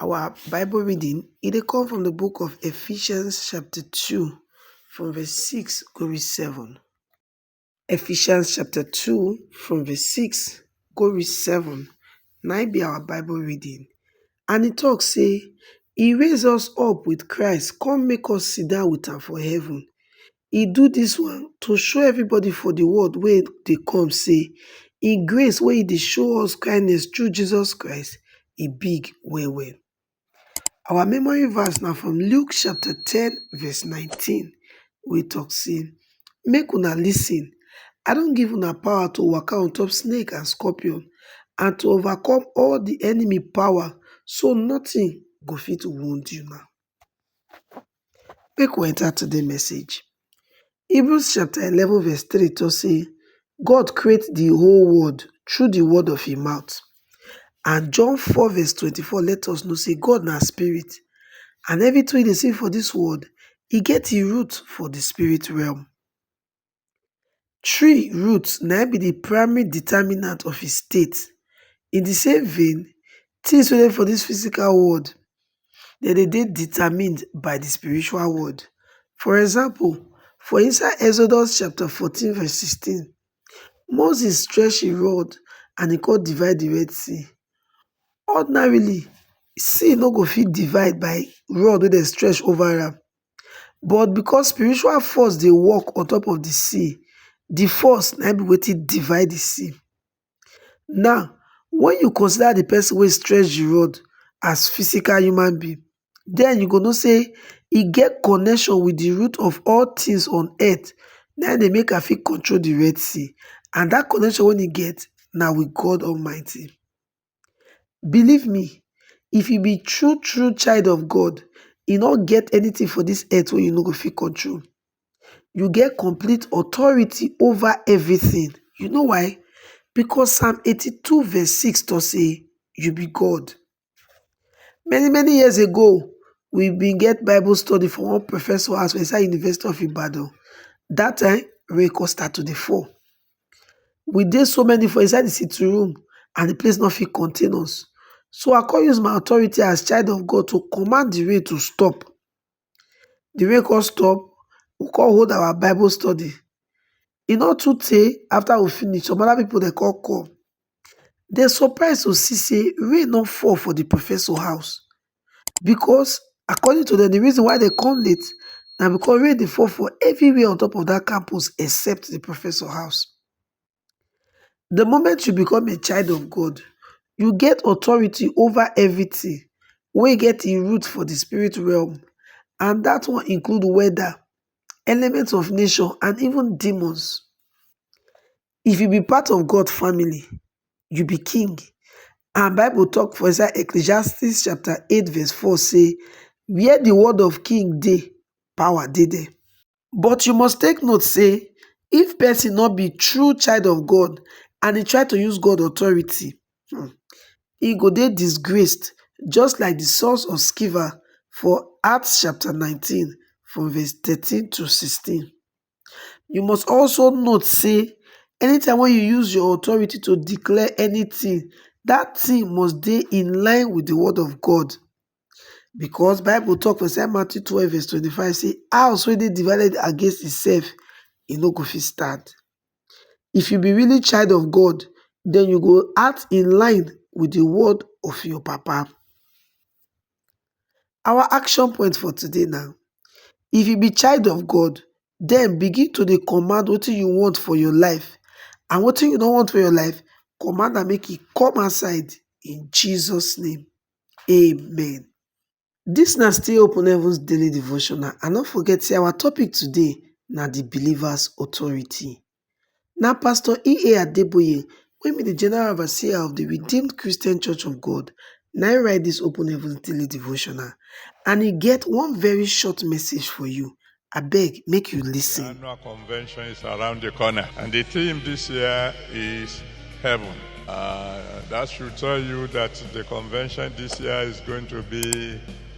Our Bible reading e dey come from the book of Ephesians chapter 2 from verse 6 go reach 7. Ephesians chapter 2 from verse 6 go reach 7 na im be our Bible reading and e talk say e raise us up with Christ come make us sit down with am for heaven e do dis one to show everybody for di world wey dey come sey im grace wey e dey show us kindness through Jesus Christ e big well well. Our memory verse na from Luke chapter ten verse nineteen wey talk sey make una lis ten I don give una power to waka on top snake and scorpion and to overcome all di enemy power so nothing go fit wound una. Make we enter today message. Hebrews chapter eleven verse three talk say God create the whole world through the word of him mouth and John four verse twenty four let us know say God na spirit and everything wey you dey see for this world e get im root for the spirit realm. tree root na im be the primary determinant of his state in the same vein things wey dey for this physical world dem dey dey determined by the spiritual world for example for inside exodus chapter fourteen verse sixteen Moses stretch him rod and he come divide the red sea ordinarily sea no go fit divide by rod wey dem stretch over am but because spiritual force dey work on top of the sea, the force na im be wetin divide the sea. Now, when you consider the person wey stretch the rod as physical human being, then you go know say e get connection with the root of all things on earth na im dey make am fit control the Red Sea and that connection wey e get na with God Almighty. Believe me, if you be true true child of God, e no get anything for this earth wey you no go fit control. You get complete authority over everything. You know why? Because Psalm 82 verse 6 talk say, you be God. Many many years ago, we been get Bible study for one professor house for inside University of Ibadan. That time, rain come start to dey fall. we dey so many for inside di sitting room and di place no fit contain us, so I come use my authority as child of God to command di rain to stop, di rain come stop we come hold our bible study, e no too tey after we finish some other people dem come come. dem surprise to see say rain no fall for the professor house because according to dem the reason why dem come late na because rain dey fall for everywhere on top of that campus except the professor house. The moment you become a child of God, you get authority over everything wey get im root for the spirit realm and that one include weather, elements of nature and even demons. if you be part of God family, you be king. And Bible talk for inside Ecclesiastes chapter 8 verse 4 say, where the word of king day, power day there. But you must take note say, if person not be true child of God and he try to use God authority, hmm, he go dey disgraced just like the sons of Sceva for Acts chapter 19 from verse 13 to 16. You must also note say anytime when you use your authority to declare anything, that thing must be in line with the word of God. Because Bible talk for St. Matthew 12 verse 25 say house wey dey divided against itself e no go fit stand. If you be really child of God, then you go act in line with the word of your papa. Our action point for today na, if you be child of God, then begin to dey command wetin you want for your life and wetin you no want for your life, command am make e come outside in Jesus name, amen. Dis na still Open Heavens Daily Devotional and no forget sey our topic today na the believer's authority. Na Pastor EA Adeboye wey be di General Overseer of di Redeemed Christian Church of God na im write dis Open Heavens Daily Devotional and e get one very short message for you. Abeg make you listen. The annual convention is around the corner, and the theme this year is heaven. Uh, that should tell you that the convention this year is going to be